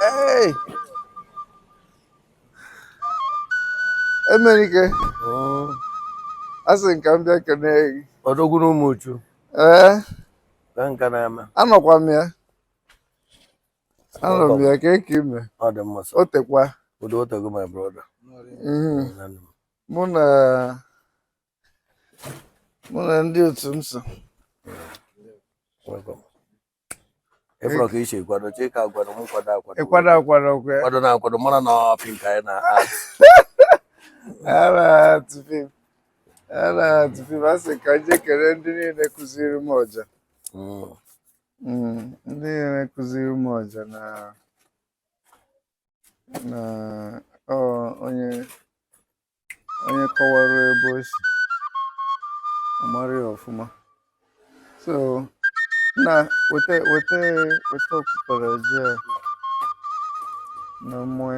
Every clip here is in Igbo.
Hey! Emenike, a sị m ka m bịa kenee gị. Odogwu na Ụmụchu Ee, kee nke na-eme anọkwa m ya. anọ m ya ka eke ime ọ dị mma sir. o tekwa udo o tego my brother Mhm. Nwanne m. mụ na mụ na ndị otu m so Welcome. ị fụrọ ka i si kwado chee ka agwado m kwado akwado ịkwado akwado okwe kwado na akwado mara na ọ pink anyị na art ara tụfim ara tụfim a sị ka m je kene ndị niile kụziri m ọja Mm. Mm, ndị niile kụziri m ọja na na ọ onye onye kọwara ebe o si a mara ya ọfụma so na weta weta weta okpukpere ji a na mmụọ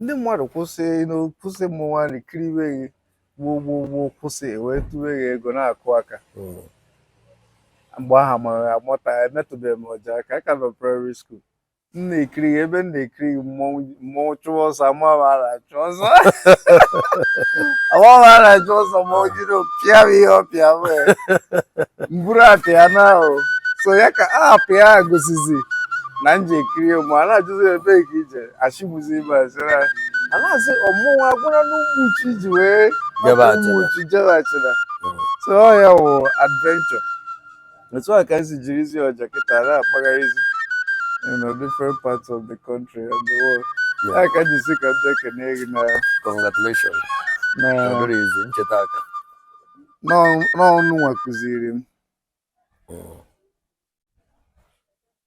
ndị mmadụ kwụsị kwụsị mmọnwụ kiriwe gị gboo gboo gboo kwụsị e wee tụwe gị ego na-akụ aka hmm. mgbe ahụ mara amụta emetụbeghị m ọja aka aka nọ primary school m na-ekiri gị ebe m na-ekiri gị mmọnwụ chụwa ọsọ amaghị a na-achụ ọsọ amaghị a na-achụ ọsọ ma o jiri pịa m ihe ọ pịa wee m buru apịa na ahụ so ya ka a apịa gosizi na m je ekiri ma a na-ajụzi ebe ka i je achịbụzi ibe asịra a na-asị ọ mmọnwụ agwụna n'Ụmụchu i ji wee Jebe hapụ Ụmụchu Achịna. jebe Achịna Mm. so ọ ya wụ adventure otu a ka esi jirizi ọja kịta na-akpagharịzi you know, different parts of the country and the world Yeah. ya ka m ji sị ka m bịa kene gị na congratulations na ọ bụrọ easy m chetakwa na ọ unu nwa kụziri m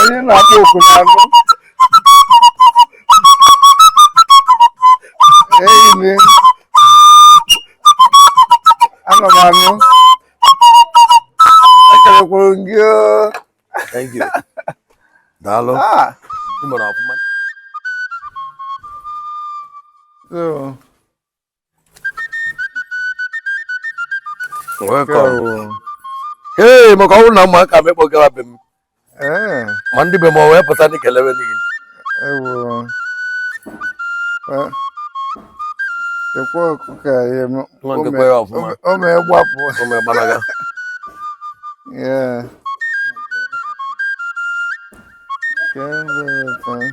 onye na-akpọ oku na-anụ enyi m anọ m anụ ekelekwuru m gị oo. Thank you. Daalụ. Ah, Ị mere ọfụma. so ee maka ọ mụ na ụmụaka m ekpọgawa be m eh. ma ndị be m wee pụta ndị kelewe n'ihi ekwe ọkụkọ ya o mee gbapụ o mee gbalaga Yeah. Very fine.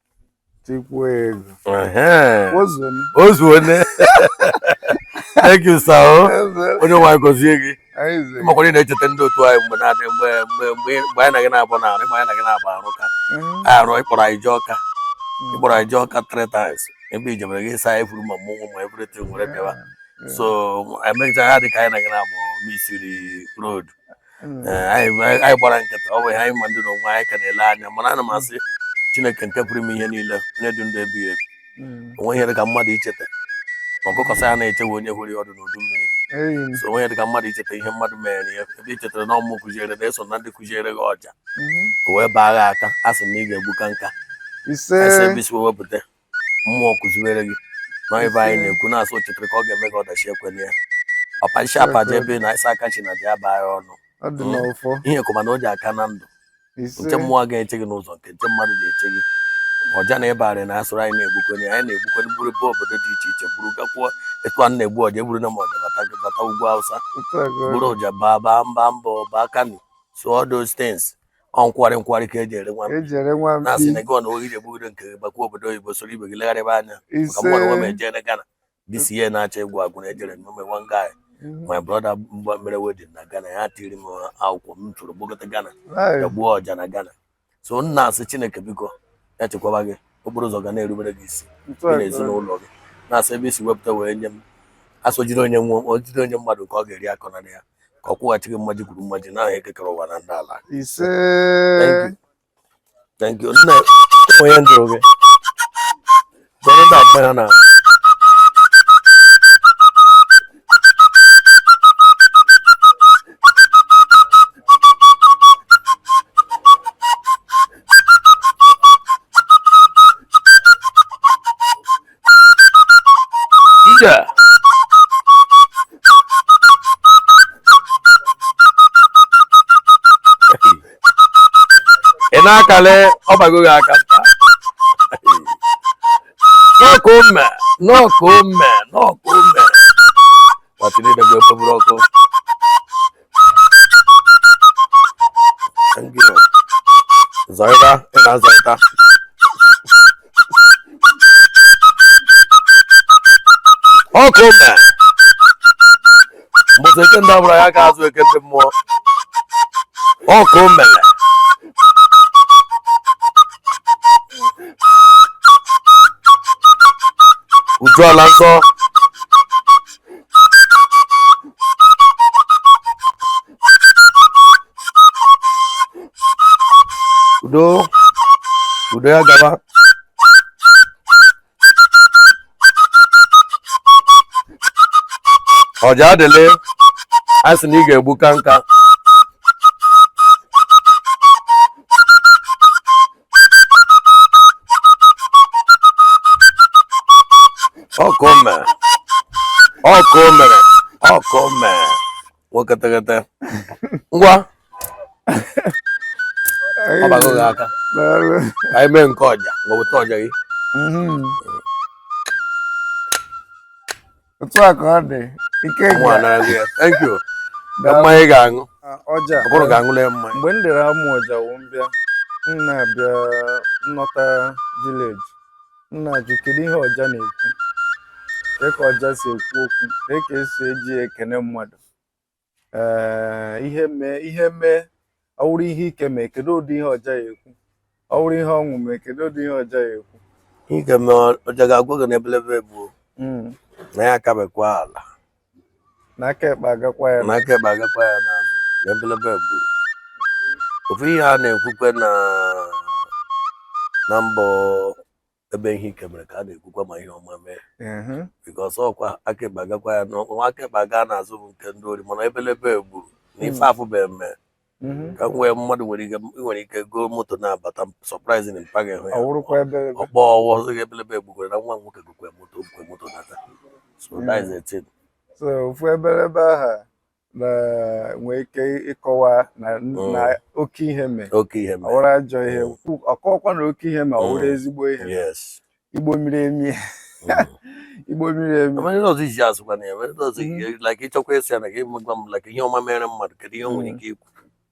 tikwa ego ozuone thank you sir oh. onye nwe anyị gọzie gị ị makwara ị na-echeta ndị otu anyị mgbe na-adị mgbe mgbe mgbe mgbe anyị na gị na-abụ na arụ ị ma anyị na gị na-abụ arụ ka arụ ị kpọrọ anyị jee Ọka ị kpọrọ anyị jee Ọka three times ebe i jebere gị saa ifuru ma mmọnwụ ma everything were bịawa so emecha ha dị ka anyị na gị na-abụ misiri road hmm. eh, anyị gbara nkịtị ọ bụ ihe anyị ma ndị na onwe anyị ka na-ele anya mana ana m hmm. asị chineke nke pụrụ ime ihe niile onye dị ndụ ebighị ebi hmm. o nwe ihe dị ka mmadụ icheta ma ọkụkọ sị ya ana echefu onye horo ya ọdụ n'udu mmiri so o nwe ihe dị ka mmadụ icheta ihe mmadụ mere ya ebe i chetara na ọ mụ kụziere na-eso na ndị kụziere gị ọja o wee baa gị aka a sị na ị ga-egbuka nka ise wepụta mmụọ kụziere gị na ibe anyị na-ekwu na-asụ chịtịrị ka ọ ga-eme gị ọdachi ekwela ya papa isi apa ji ebe na ịsa aka chi na dị aba anyị ọnụ ọ dị n'ọfọ ihe kụma na o ji aka na ndụ ise nke mmụọ ga-eche gị n'ụzọ nke nke mmadụ ga-eche gị ọja na ịbarị na asụrụ anyị na-egbukwenye anyị na-egbukwenye buru jebe obodo dị iche iche buru gakwuo etu a na-egbu ọja eburu na ma ọja bata bata ugwu Awụsa otu a ka ọ bụrụ dị. ọja baa baa mba mbọ baa Kano so all those things Ọ nkwari nkwari ka e ji ere nwa mkpi. e ji ere nwa mkpi. Na-asị na gị ọ na ị ga-egbugide nke gị bakwa obodo oyibo soro ibe gị legharịba anya. Maka mụ onwe m ejere Ghana. This year na-achọ ịgwụ agwụ na ejere m ome one guy. Mhm. My brother mgbe mere wedding na Ghana ya tiri m akwụkwọ m tụrụ gbagote Ghana. Ya gbuo ọja na Ghana. So m na-asị Chineke biko ya chekwaba gị okporo ụzọ ga na-erubere gị isi gị na ezinụlọ gị na-asị ebe i si wepụta wee nye m asojiri onye onye mmadụ nke ọ ga-eri akọna ya ka ọ kwụghachi gị mmaji kwuru mmaji n'aha Eke kere ụwa na ndị ala ise thank you nna ụmụ ya njụrụ gị gọrọ ndị agba ya na ị na-akale ọbago gị aka n'ọkụ mme n'ọkụ mme n'ọkụ mme ọkụ zọịta ị na-azọịta ọkụ mme mbọsị eke ndị ọbụla ya ga-azụ eke ndị mmụọ ọkụ mele uju ala nsọ udo udo ya gaba ọja adịlị a sị na ị ga-egbuka nka ọkụ mere ọkụ mere ọkụ mere nwoke teghete ngwa ọ bago gị aka ka anyị mee nke ọja ngwa bute ọja gị otu a ka ọ dị ike Ụmụ a nara gị ya. Thank you. Na mmanya ị ga-aṅụ. ọja Ọ bụrụ ga-aṅụla ya mmanya. mgbe m dere amụ ọja wụ m bịa m na-abịa nnọta village m na-ajụ kedu ihe ọja na-ekwu kee ka ọja si ekwu okwu kee ka e si eji ya ekene mmadụ ee ihe mee ihe mee ọ wụrụ ihe ike mee kedu ụdị ihe ọja ya ekwu ọ wụrụ ihe ọṅụ mee kedu ụdị ihe ọja ya ekwu ihe ike mee ọja ga-agwa gị na ebelebe egbuo mm. na ya akabekwa ala na aka ekpe agakwa ya na aka ekpe agakwa ya n'azụ na ebelebe egbuo ofu ihe a na-ekwukwe na na mbọ ebe ihe ike mere ka a na-ekwukwa ma ihe ọma mee ehe, because ọkwa aka ekpe agakwa ya n'ọkwa nwa aka ekpe aga n'azụ bụ nke ndị ori mana ebelebe egburu na ife afụbeghị emee mhm. ka m wee mmadụ nwere ike ị nwere ike goo moto na-abata surprising mpa gị hụ ya wụrụkwa ebe ebe ọkpọ ọwụwa ọzọ gị ebelebe egbukwere na nwa m nwoke gokwe moto gokwe moto nata so that is the thing. so ofu ebelebe aha nwee ike ịkọwa na mm. oke ihe mee ọ wụrụ ajọ ihe mm. ọ kọọkwa na oke ihe mee ọ wụrụ mm. ezigbo ihe Igbo miri emi Igbo miri emi ọzọ iji azụkwa na ya ọzọ mm-hmm. like ị chọkwa ịsị ya na gị gwa m like ihe ọma mere mmadụ kedu ihe o nwere ike ikwu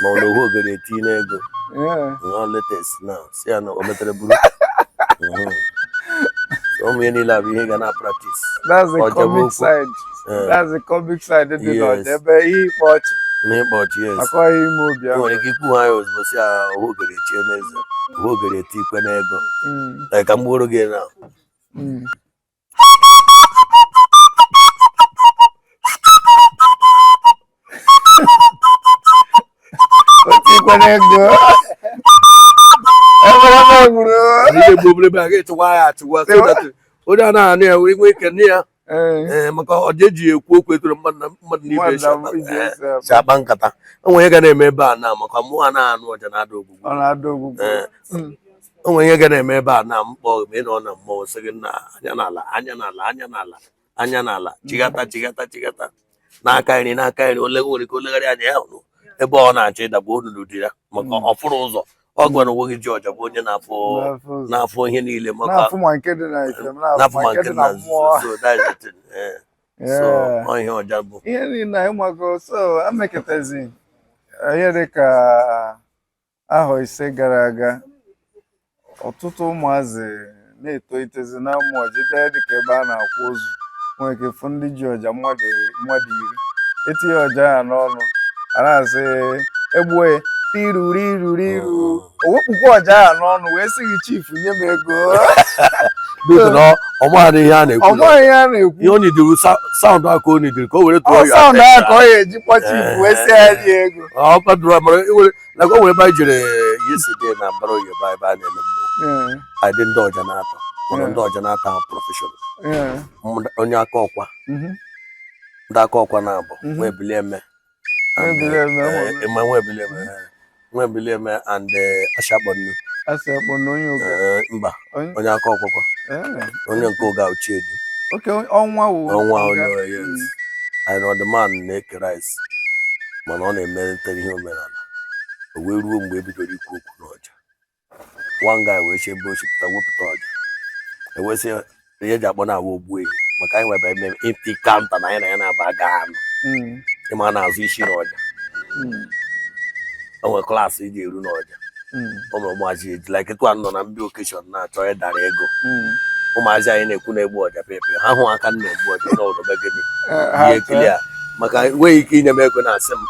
ma ọ na ohu ogere etie n'ego nọ latest na si ya na o metere buru mhm. ụmụ ihe niile abụ ihe ga na-apractice that's the comic side eh. that's the comic side dị n'ọja ebe ihe ịkpa ọchị na ịkpa ọchị yes akọghị ime obi ahụ nwere ike ikwu ha ya ozugbo si ya ohu ogere chie n'eze ohu ogere eti ikwe n'ego hmm. ka m gbuoro gị na hmm. onye anaghị anụ ya wee nwee ike nne ya ee maka ọja eji ekwu okwu etoro mmadụ na ibe si akpa nkata o nwee ihe ga na-eme ebe a na maka mụ anaghị anụ ọja na-ada ogbugbu o nwere ihe ga na-eme ebe a na mkpọ ma ị nọ na mmọnwụ sị gị na anya n'ala anya n'ala anya n'ala anya n'ala chigata chigata chigata n'aka nri n'aka nri ole nwere ike olegharị anya ya hụrụ ebe ọ na-achọ ịdagbu onunu dị ya maka Mm. ọ fụrụ ụzọ ọ gwara onwe gị ji ọja bụ onye na-afụ Na-afụ ụzọ. na-afụ ihe niile maka na-afụ ma nke dị na ife ma na-afụ ma nke dị na mmụọ nzuzo so that's the thing eh. so Yeah. ọ ihe ọja bụ ihe niile anyị mago so ameketazi ihe dị ka ahọ ise gara aga ọtụtụ ụmụazị na-etolitezi na-amụ ọja ị bịa dịka ebe a na-akwa ozu nwere ike fụ ndị ji ọja mmadụ mmadụ iri etinye ọja ya n'ọnụ a na-asị egbue tiruri ruri iru o wepụkwa ọja ya n'ọnụ wee sị gị chief nye m ego biko na ọ maghị ihe a ọ na-ekwu maghị ihe a na-ekwu ihe o nidiri sound a ka o nidiri ka o were tụọ ọ ya sound ahụ ka ọ ya-eji kpọ chief wee sị ya nye ego ọ kwadoro mara iwere na o nwere ebe anyị jere yesterday na mbara oyi ebe ebe a na-ele mmụọ anyị dị ndị ọja n'atọ mana ndị ọja n'atọ ahụ professional onye Akọkwa mhm. ndị Akọkwa na-abụ mhm. Nwebilieme Nwebilieme Nwebilieme and eh, Ashakpọnụ mba onye Akọkwa onye nke Uga Uchiedu ọnwa ọnwa onye anyị nọ the man na-eke rice mana ọ na-emelite ihe omenala o wee ruo mgbe e bidoro ikwu okwu n'ọja one guy wee si ebe o si pụta wepụta ọja e wee sị ihe e ji akpọ nwa ogbuehi maka anyị nwebe eme ịpị kanta na anyị na ya na-aba aga anụ ịma na-azụ isi n'ọja hmm. o nwere class ị ga-eru n'ọja o nwere ụmụazị eji like etu a nọ na big occasion na-achọ ịdara ego ụmụazị anyị na-ekwu na-egbu ọja pepe ha hụ aka m na-egbu ọja na ụlọ be gịnị ihe ekili a maka enweghị ike inye m ego na-asị m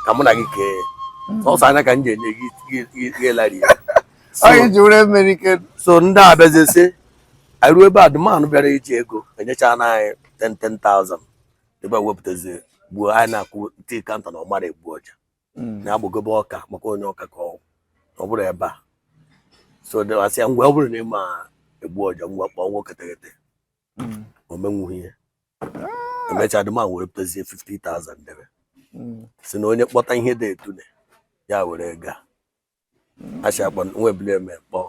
ka mụ na gị kee ọsọ anya ka m ji enye gị gị- gị- gị larịị ya anyị ji were mmeri ike so ndị a bịazie sị anyị ruo ebe a the man bịara iji ego enyechana anyị 10,000 ebe a wepụtazie gbuo anyị na-akwụ tii kanta na ọ mara egbu ọja hmm. na-agbagobe ọka maka onye ọka ka ọ bụrụ ebe a so a sị ya ngwa ọ bụrụ na ị ma egbu ọja ngwa kpọọ nwoke teghete hmm. o menwughị ihe ah. emechaa the man were pụtazie 50,000 debe hmm. si na onye kpọta ihe dị etune ya were gaa Ashakpọ Nwebilieme kpọ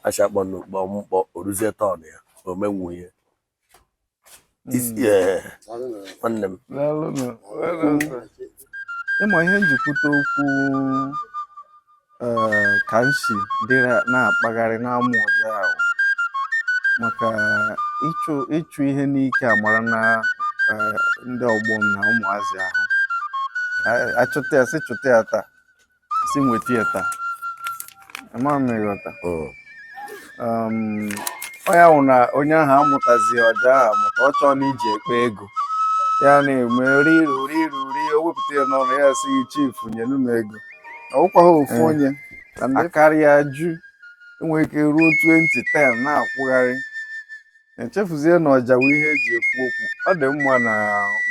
Ashakpọnụ kpọ m kpọ o ruzie turn ya o menwu ihe Is- eh, nwanne m Daalụnụ. ịma ihe m ji kwute okwu eh, ka m si dịrị na-akpagharị na-amụ ọja ahụ maka ịchụ ịchụ ihe n'ike a mara na eh, ndị ọgbọ m na ụmụazị ahụ A- achụta ya sị chụta ya taa si nweta ya taa ama m ịghọta hmm. um, onye ahụ na onye ahụ amụtazi ọja ahụ maka ọ chọọ na e ji ekpe ego ya na-eme riru riru ri o wepụta ya n'ọnụ ya sị chief nyenụ m ego ọ wụkwaghị ofu hmm. onye na ndị karịa ju enwere ike ruo 20 10 na-akwụgharị e chefuzie na ọja wụ ihe eji ekwu okwu ọ dị mma na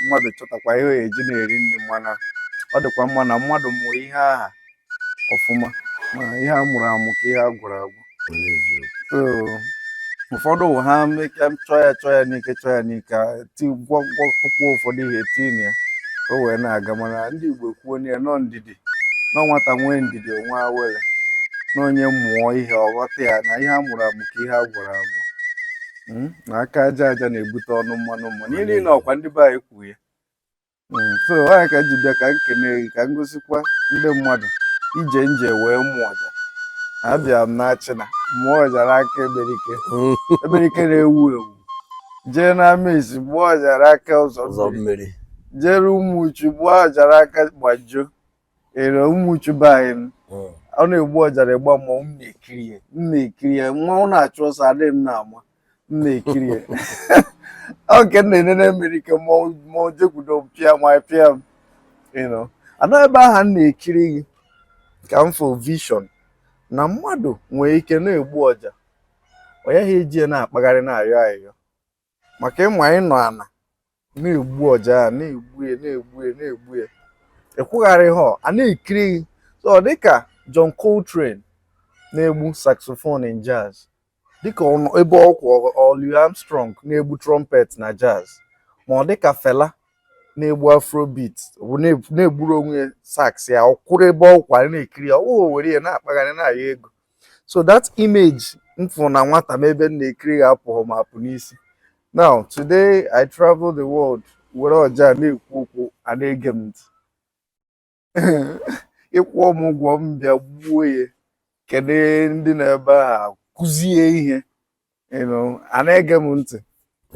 mmadụ chọtakwa ihe ya eji na-eri nri mana ọ dịkwa mma na mmadụ mụrụ ihe aha ọfụma ma ihe a mụrụ amụ ka ihe a gwọrọ agwọ so ụfọdụ wụ ha meke chọọ ya chọọ ya n'ike chọọ ya n'ike gwọgwọkpụkpọ ụfọdụ ihe tinye ya ka o wee na-aga mana ndị Igbo kwuo ya na ọ ndidi na nwata nwee ndidi o nwee awele na onye mụọ ihe ọ ghọta ya na ihe a mụrụ amụ ka ihe a gwọrọ agwọ hmm? na aka aja aja na-ebute ọnụ mmanụ mmanụ ihe niile ọ kwa ndị be anyị kwuo ya hmm, so ọ ya ka m ji bịa ka m kene gị ka m gosikwa ndị mmadụ ije m je wee mụọ ọja abịa m na Achịna mụọ ọja n'aka Eberike Eberike na-ewu ewu jee n'Amesi gbuo ọja n'aka ụzọ ụzọ mmiri mmiri jere Ụmụchu gbuo ọja n'aka Gbajo na Ụmụchu be anyị nụ. Mm. ọ na-egbu ọja n'ịgba mmọnwụ m na-ekiri ya mmọnwụ na-achụ ọsọ adịghị m na-ama m na-ekiri ya ọ ka m na-enene Eberike mmọnwụ jekwudo m pịa ma ị pịa m you know. ọ n'ebe ahụ m na-ekiri gị ka m fụ vision na mmadụ nwere ike na-egbu ọja ọ yaghị eji ya na-akpagharị na-ayọ ayọ maka ị ma ị nọ ala na-egbu ọja a na-egbu ya ị kwụgharịhọ a na-ekiri gị so ọ dịka John Coltrane na-egbu saxophone in jazz dịka ebe ọ kwụ Louis Armstrong na-egbu trumpet na jazz ma ọ dịka Fela na-egbu afrobeat na-egburu onwe ya sax ya ọ kwụrụ ebe ọ kwụ a na-ekiri ya ọ wụghị were ya na-akpagharị na-ayọ ego so that image m fụ na nwata m ebe m na-ekiri ya apụghị m apụ n'isi now today i travel the world were ọja na-ekwu okwu a na-ege m ntị ị kwụọ m ụgwọ m bịa gbuo ya kene ndị nọ ebe ahụ kụzie ihe you know, a na-ege m ntị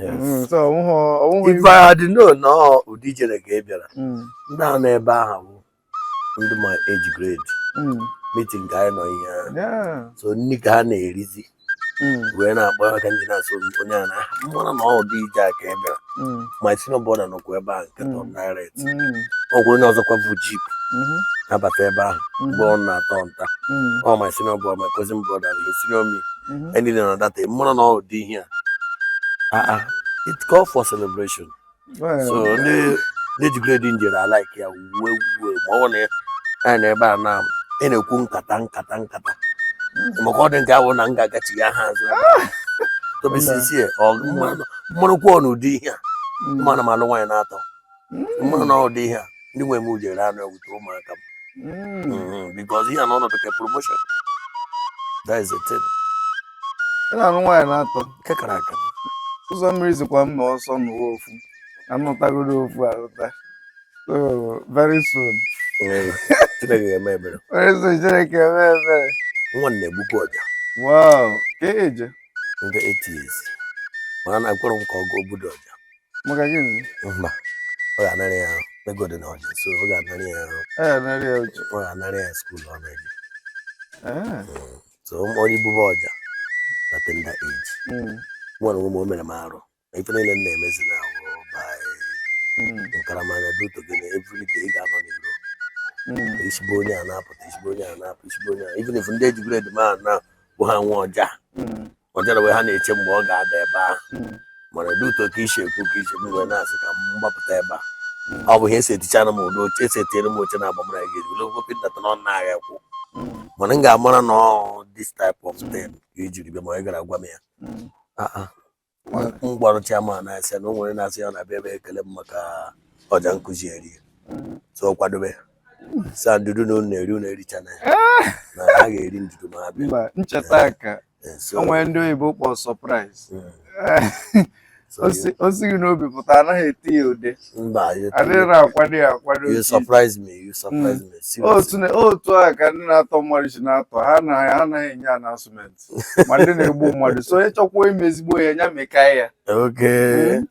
Mm, so ọ wụghị ọ wụghị if I had known na ọ ụdị ije a ka ị bịara Mm, ndị ahụ nọ ebe ahụ bụ ndị my age grade mm, meeting ka anyị nọ ihe ahụ yeah, so nri ka ha na-erizi mm, wee na-akpọ aka ndị na-asị onye a na aha manụ na ọ ụdị ije a ka ị bịara mm, my senior brother nọkwa ebe ahụ nke tọ m direct mm, ọ gwụrụ onye ọzọkwa bu jeep mhm, na-abata ebe ahụ mgbe ọ na-atọ nta mm, ọ my senior brother my cousin brother na esi na omi mhm. ndị nọ na data mara na ụdị ihe a ah, ah, it call for celebration so ndị age grade m jere alaiki ya wuwe wuwe ma ọ na ya na ebe a na ị na-ekwu nkata nkata nkata mhm. maka ọ dị nke ahụ na m ga-agachigha azụ ah! tobesisie mmanụkwụ n'ụdị ihe a mana m alụ nwaanyị na-atọ mmanụ na ụdị ihe a ndị nwe m jere anụ ewute ụmụaka m because ihe a na ọnọdụ ka promotion that is the thing ị na-anụ nwaanyị na-atọ nke kara aka ụzọ mmiri zikwa mma ọsọ n'ụwa ofu anụtagoro ofu alụta so very soon chineke ga-eme ebere very soon chineke eme ebere nwa m na-egbukwa ọja wow ka eje ndị 8 years mana na-akwụrụ m ka ọ gụọ obodo ọja maka gịnị mba ọ ga-anara ya ego dị n'ọja so ọ ga-anara ya ọ ga-anara ya school ọ na-eje so onye gbuba ọja na tender age nwa na ụmụ o mere m arụ na ife niile m na-emezi na ahụ nkaramanya dị otu gị na everyday ị ga-anọ n'iro i si be onye a na-apụta i si be onye a na-apụ i si be onye a even if ndị age grade m ahụ na bụ ha nwe ọja ọjara wee ha na-eche mgbe ọ ga-ada ebe ahụ mana dị ụtọ ka isi ekwu ka isi m wee na-asị ka m gbapụta ebe a ọ bụ ihe esetichara m ụdị oche esetiere m oche na agbamara gị ejiri ogwo pịtata na ọ na-agha ekwu mana m ga-amara na ọ this type of thing ka ijiri bịa ma ị gara gwa m ya Ah, ah. m gwara chairman na-asị na o nwere na-asị ya na bịa ebe ekele m maka ọja nkụzi eri so ọ kwadobe sa ndudu na unu na-eri unu erichana ya na ha ga-eri ndudu ma ha bịa mba ncheta ka Eh, so, o nwere ndị oyibo kpọrọ surprise mm, so you- o sighị n'obi pụta anaghị eti ya ude mba you- adịghị akwado ya akwado you otu surprise me you surprise me seriously. otu na- otu a ka ndị na-atọ mmadụ si na-atọ ha na ha anaghị enye announcement ma ndị na-egbu mmadụ so onye chọkwa ime ezigbo ihe ya meka ya okay hmm?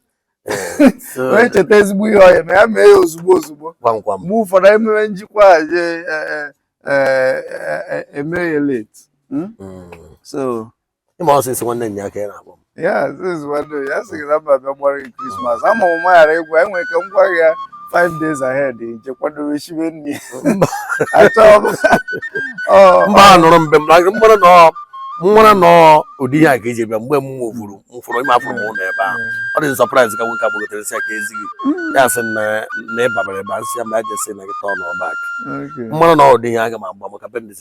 eh, so onye cheta ezigbo ihe ọ ya-eme ya mee ya ozugbo ozugbo ngwa ngwa mgbe ụfọdụ emewe njikwa je e, e, e, eme ya late hmm? Hmm. so ịma ọsịsọ nwanne nya aka ya na-akpọ m ya ya sị gị na m abịa gbara gị Christmas ama m maghara egwu anyị nwere ka m gwa ya five days ahead je kwadobe shibe nri mba nụrụ mbe mgbara nọ m mara na ọ ụdị ihe a ka eji bịa mgbe m nwụfuru mfụrụ ime afụrụ m ụlọ ebe ahụ ọ dị surprise ka nwoke abụgotere si aka ezighị ya sị na ịbabara ebe a nsị ya ma ya jesị na gị tọọ n'ọbak mmanụ na ụdị ihe a ga m agba maka bendis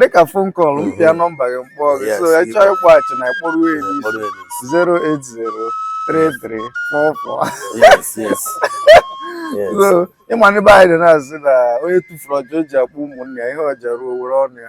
dịka phone call m pịa nọmba gị m kpọọ gị so ị chọọ ịkpọghachi na ị kpọrọ ya n'isi 0803344 so ị ma ndị be anyị dị na-asị na onye tufuru ọja o ji akpọ ụmụnne ya ihe ọja ruo o were ọnụ ya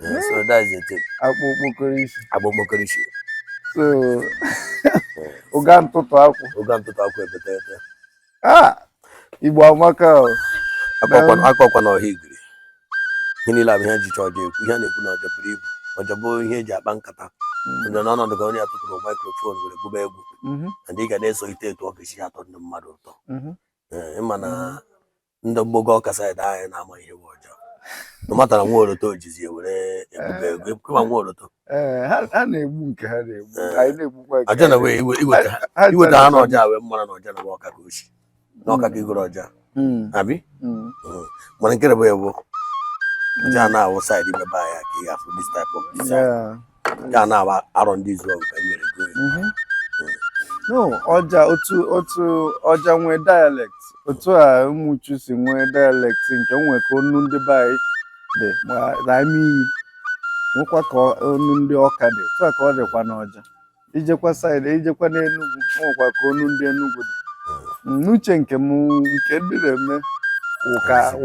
Yeah, so that is the thing. Akpụ okpokoro isi. Akpụ okpokoro isi. So, ụga ntụtụ akwụ. Ụga ntụtụ akwụ ebete ete. Ah, Igbo amaka o. Akọkwa na ọha igiri. Ihe niile a bụ ihe e jicha ọja ekwu, ihe a na-ekwu na ọja buru ibu. Ọja bụ ihe e ji akpa nkata. Mm. Onye n'ọnọdụ ka onye atụtụrụ microphone were gụba egwu. Mm-hmm. Na ndị ga na-eso ite etu ọ ga-esi atọ ndị mmadụ ụtọ. Mm-hmm. Eh, ị ma na mm-hmm. ndị mgbago Ọka side anyị na-ama ihe bụ ọja na matara nwa oroto o jizi were ebuga ego ị ma nwa oroto ee ha ha na-egbu nke ha na-egbu Ee. anyị na-egbukwa nke ọja na anyị wee iwe- iweta ha Ha- ha iweta ha chọrọ- n'ọja wee mara na ọja na bụ Ọka ka o si na Ọka ka i goro ọja Mm, abi mm. mana nke bụ ya bụ ọja na-awụ side ebe be anyị ka ị ga-afụ this type of design Yeah. ya na Arọndizuọgụ ka e nyere gị mhm. no ọja otu otu ọja nwee dialect otu a Ụmụchu si nwee dialect nke nwee ka ọnụ ndị be anyị dị ma ime iyi nwekwa ka ọnụ ndị Ọka dị otu a ka ọ dịkwa n'ọja i jekwa side i jekwa n'Enugwu nwekwa ka ọnụ ndị Enugwu dị hmm. n'uche nke m nke ndị na-eme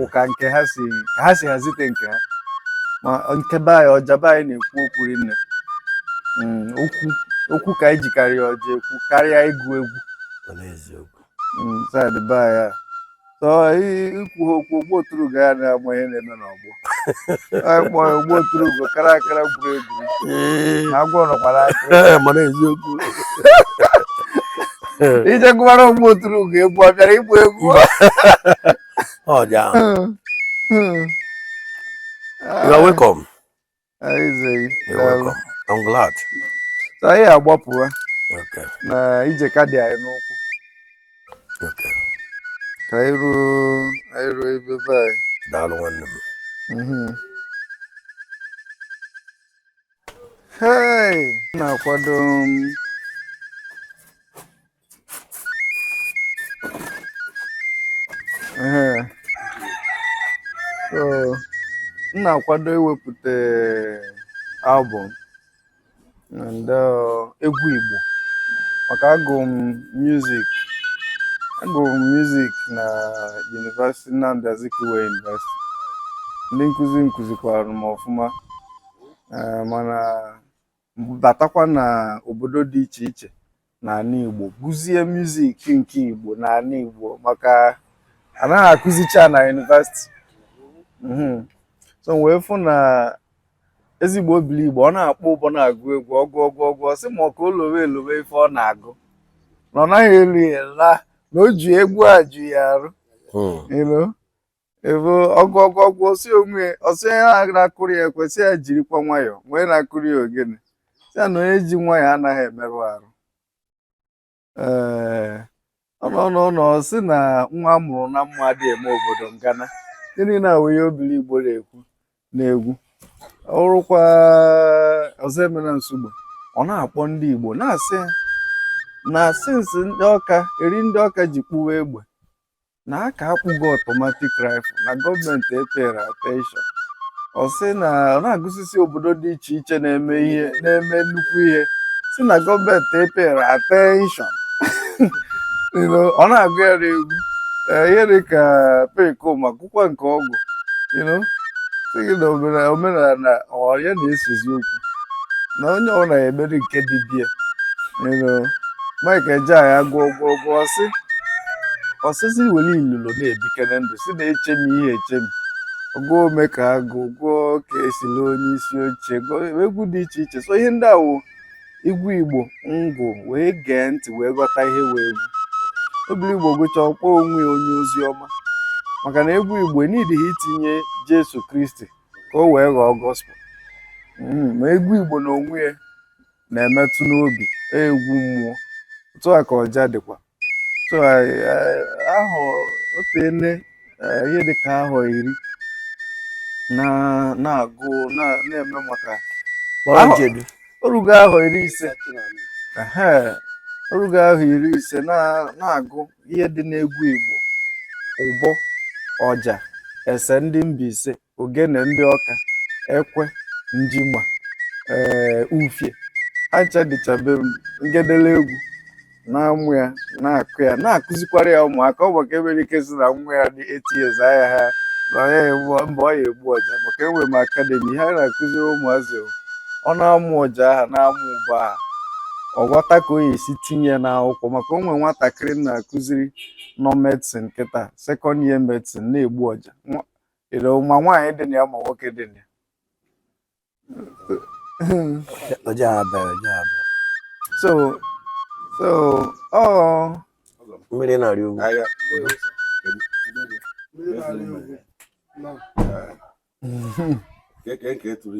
ụka nke ha si ka ha si hazite nke ha ma nke be anyị ọja be anyị na-ekwu okwu rinne hmm, okwu okwu ka anyị jikarịa ọja ekwu karịa ịgụ egwu Mm, side be anyị a. So, i- ikwu ha okwu ogbu oturu ga ya na-agba ihe na-eme n'ọgbọ anyị kpọọ ya ogbu oturu bụ kara akara gwuru egwu Ee, na agwọ nọkwara aka ee, mana eziokwu ije gụwara ogbu oturu ga egwu ọ bịara ịgba egwu ọ dị ahụ Mm, mm. you are welcome anyị agbapụwa na ije ka dị anyị n'ụkwụ ka anyị ruo ebe be anyị daalụ nwanne m mhm. na-akwado um, m na-akwado iwepụta album and uh, egwu Igbo maka agụ m music agụ m music na University Nnamdi Azikiwe University ndị nkụzi m kụzikwara m ọfụma eh, mana batakwa na obodo dị iche iche n'ala Igbo gụzie muzik nke Igbo n'ala Igbo maka anaghị akụzicha na yunivasiti mhm. so m wee fụ na ezigbo Obiligbo ọ na-akpọ ụbọ na-agụ egwu ọ gụọ gụọ gụọ ọ sị maka o lowe elowe ife ọ na-agụ na ọ naghị elu ya na o ji egwu aju ya arụ hmm. ebe ọ gụọ gụọ gụọ ọ sị onwe ọ sị onye na-akụrụ ya ekwe sị ya jirikwa nwayọọ mgbe onye na-akụrụ ya ogene sị ya na onye ji nwayọọ anaghị emerụ arụ ee ọ nọọ nọọ nọọ ọ sị na nwa a mụrụ na mma adịghị eme obodo ngana gịnị na-awụ ihe Obiligbo na-ekwu n'egwu ọ bụrụkwa Ọzọemena Nsugbe ọ na-akpọ ndị igbo na-asị ha na sinsi ndị Ọka eri ndị Ọka ji kpụwa egbe na aka akpụgo automatic rifle na gọọmenti epere attention ọ sị na ọ na-agụsisi obodo dị iche iche na-eme ihe na-eme nnukwu ihe si na gọọmenti epere attention You know, ọ na-agụ ya n'egwu Eh, ihe dị ka Perikoma gụkwa nke ọgwụ you know, sị gị na omena- omenala ọ ya na-esezi okwu na onye ọ na-emeri nke dibịa you know, Mike Ejeagha gụọ gụọ gụọ ọ sị ọ sịzị were ilulo na-ebikere ndụ si na-echemi ihe echemi gụọ Omekagụ gụọ ka esi le onye isi oche gụọ egwu dị iche iche so ihe ndị a wụ egwu igbo ngụ wee gee ntị wee ghọta ihe wụ egwu Obiligbo gụcha ọ kpọọ onwe ya onye ozi ọma maka na egwu igbo na ị dịghị itinye jesu kristi ka o wee ghọọ gospel ma egwu igbo na onwe ya na-emetụ n'obi egwu mmụọ otu a ka ọja dịkwa so ahụ o tele ihe dịka ahọ iri na-agụ na-eme maka o rugo ahọ iri ise o rugo ahọ iri ise na-agụ ihe dị n'egwu Igbo ụbọ ọja ese ndị Mbaise ogene ndị Ọka ekwe njigba ee ufie acha dịcha be m ngedelegwu na-amụ ya na-akụ ya na-akụzikwara ya ụmụaka ọ maka enwere ike si na nwa ya dị eight years ahịa ha na ọ ya egbu mba ọ ya egbu ọja maka enwere m akademi ha na-akụziri ụmụazị o. ọ na-amụ ọja aha na-amụ ụbọ aha ọ ghọta ka o ya esi tinye ya n'akwụkwọ maka o nwere nwatakịrị m na-akụziri nọ medicine kịta second year medicine na-egbu ọja Nwa- ire ma nwaanyị dị na ya ma nwoke dị na ya Oje abịa, oje abịa. so so ọ Mmiri na-arị ugwu. Keke nke tụrụ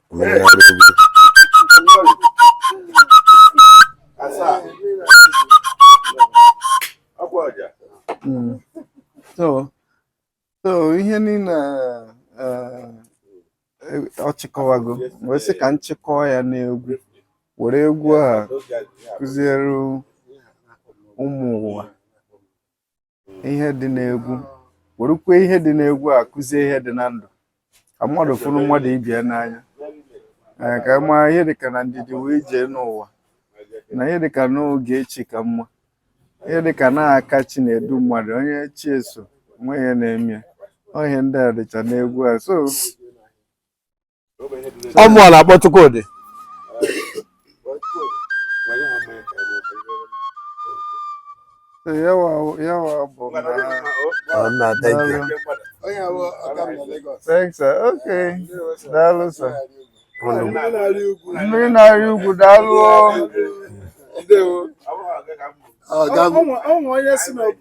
hmm. so so ihe niile eh, eh, ọ chịkọwago wee sị ka m chịkọọ ya n'egwu were egwu a kụziere ụmụ ụwa ihe dị n'egwu werekwa ihe dị n'egwu a kụzie ihe dị na ndụ ka mmadụ fụrụ mmadụ ibe ya n'anya ee ka mma ihe dịka na ndidi wee jee n'ụwa na ihe dịka n'oge echi ka mma ihe dịka na aka chi na-edu mmadụ onye chi ya so nwe ihe na-eme ya. Ọ ihe ndị a dịcha n'egwu a so ọ mụ a na-akpọ Chukwudi yawa yawa bụ na thank you thanks sir okay daalụ sir mmiri na-arị ugwu daalụ ọnwa onye si na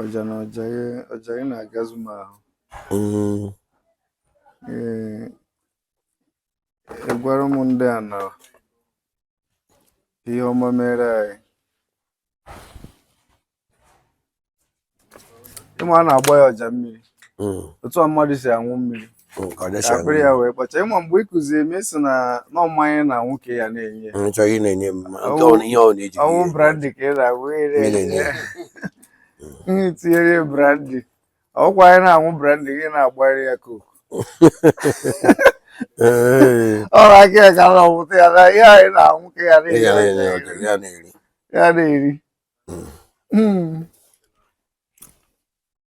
ọja na ọja ya ọja gị na-agazu m ahụ Mm, Ee, agwara m ndị a na ihe ọma mere anyị ị ma a na-agba ya ọja mmiri mm. otu a mmadụ si aṅụ mmiri mm, ka akpịrị ya wee kpacha ị ma mgbe ị kụziri m sị na na ọ mmanya a na-aṅụ ka ya na-enye chọghị na-enye m ọnwụ brandy ka ị na-agwụ tinyere brandy ọ kwa anyị na-aṅụ brandy gị na-agbari ya Coke ọrụ aka ya ka na ọmụta ya na ihe anyị na-aṅụ ka ya na-eri ya na-eri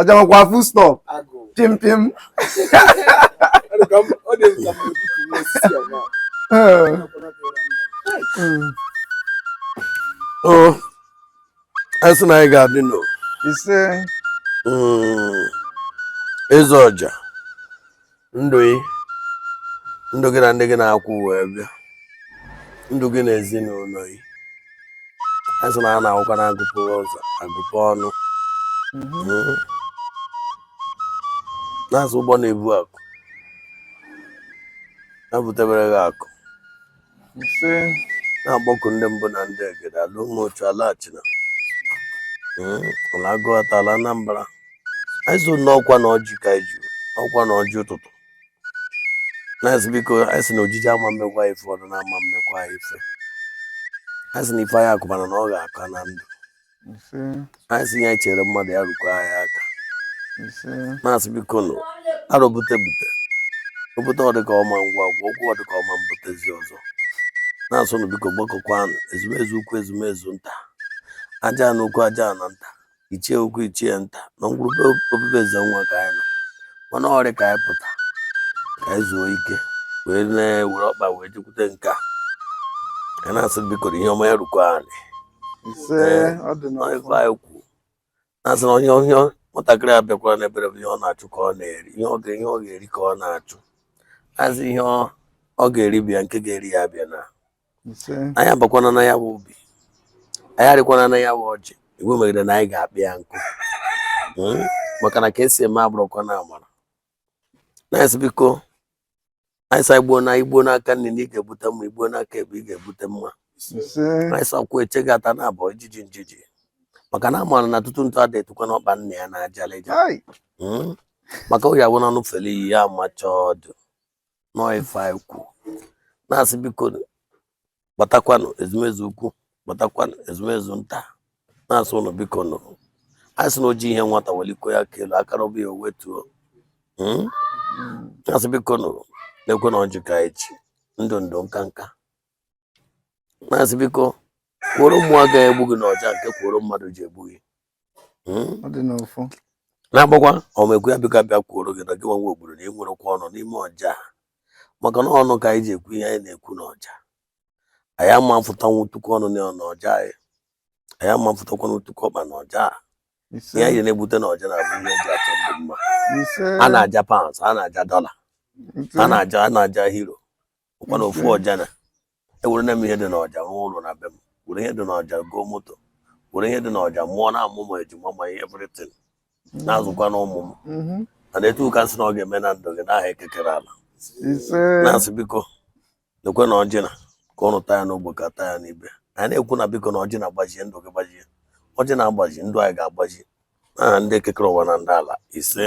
ọja makwa full stop pim pim oh, a sị na anyị ga-adịnụ o ise hmm, eze ọja ndụ gị ndụ gị na ndị gị na ha kwụ wee bịa ndụ gị na ezinụlọ gị a sị na a na-abụkwa na a gupe ụzọ a gupe ọnụ mm-hmm. na-asị ụgbọ na-ebu akụ na-ebutebere gị akụ ise na-akpọku ndị mbụ na ndị egede ala Umuchu ala Achina Mm, ala Aguata ala Anambra anyị sị na ọ kwa na ọjị ka anyị ji ọ kwa na ọjị ụtụtụ na-asị biko anyị sị na ojije ama mmekwa ife ọdụ na ama mmekwa ife anyị sị na ife anyị akụbana na ọ ga-aka na ndụ anyị sị ihe e chere mmadụ ya rukwa anyị aka na-asị biko nụ arọ bute bute obute ọdịka ọma ngwa ngwa okwu ọdịka ọma mbutezi ọzọ na-asị ụnụ biko gbakọkwanụ ezumezu ukwu ezumezu nta Ajana ukwu Ajana nta ichie ukwu ichie nta na ngwuru be obibi eze nwa ka anyị nọ mana orie ka anyị pụta ka anyị zuo ike wee na-ewere ọkpa wee jekwute nke a ka na-asị biko ihe ọma ya rukwa anyị ise ọ dị n'ọfọ ọ ife anyị kwu na-asị na onye onye nwatakịrị abịakwara n'ebere bụ ihe ọ na-achụ ka ọ na-eri ihe ọ ga- ihe ọ ga-eri ka ọ na-achụ a sị ihe ọ- ọ ga-eri bịa nke ga-eri ya abịana ise anyị abakwana na ya bụ ubi anyị arịkwana na ya bụ ọjị iwu megide na anyị ga-akpa ya nkụ Mm? maka na ka esi eme abụrụkwa na amara na-asị biko anyị sa igbo na igbo n'aka nni na ị ga-ebute mma igbo n'aka ekpe ị ga-ebute mma anyị sakwu eche gị ata na abụọ ijiji njiji maka na amaara na tutu ntụ ada etukwa na ọkpa nne ya na ajalịja hmm? maka ọ ya bụ na anụ fere iyi ya amacha ọdụ na ọ ife anyị kwu na-asị biko gbatakwanụ ezumezu ukwu gbatakwanụ ezumezu nta na-asị ụnụ biko nụ anyị sị na oji ihe nwata weliko ya aka elu aka rabụ ya o wetuo hmm? na-asị biko nụ neekwanụ ọjị ka echi ndụ ndụ nka nka na-asị biko kworo mmụọ agaghị egbu gị na ọja nke kworo mmadụ ji egbu gị hmm? na-agbakwa ọmekwu ya biko bịa kwuoro gị na gị nwa obodo na ịnwerekwa ọnụ n'ime ọja maka na ọnụ ka anyị ji ekwu ihe anyị na-ekwu n'ọja anyị ama afụtanwu tuku ọnụ na ọja anyị anyị ama afụtakwanụ tuku ọkpa na ọja ihe anyị na-ebute na ọja na-abụ ihe eji achọ ndụ mma a na-aja pounds a na-aja dollar a na-aja a na-aja euro ọkwa na ofu ọja na ewerena m ihe dị n'ọja rụọ ụlọ na be m were ihe dị n'ọja goo moto were ihe dị n'ọja mụọna ụmụ ejima ma ihe everything na-azụkwa na ụmụ m mhm. na etu a ka m sị na ọ ga-eme na ndụ gị n'aha eke kere ala na-asị biko neekwanụ ọjị na ka ụnụ taa ya n'ogbe ka anyị taa ya n'ibe anyị na-ekwu na biko na ọjị na-agbaji ndụ gị gbajie ọjị na-agbaji ndụ anyị ga-agbaji n'aha ndị eke kere ụwa na ndị ala ise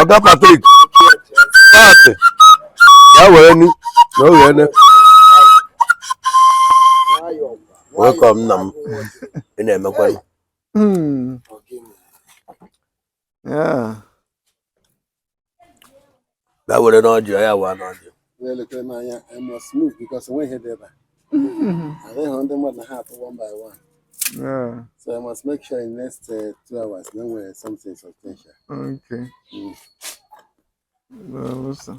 ọga Patrick paatị ya were ni na oge ene welcome nna m ị na-emekwa ya. Hmm. Yeah. ga werenụ ọjị ya waanụ ọjị na-elekere m anya I must move because enweghị ihe dị ebe a adịghị ndị mmadụ na ha atụ one by one Yeah, so I must make sure in next uh, two hours na enwere something substantial okay. Mm. Well, listen.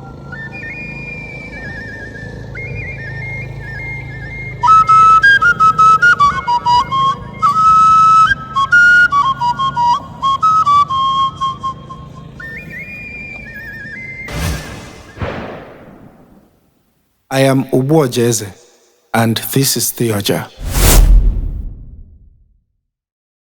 I am Ubu Ojeze, and this is The Oja.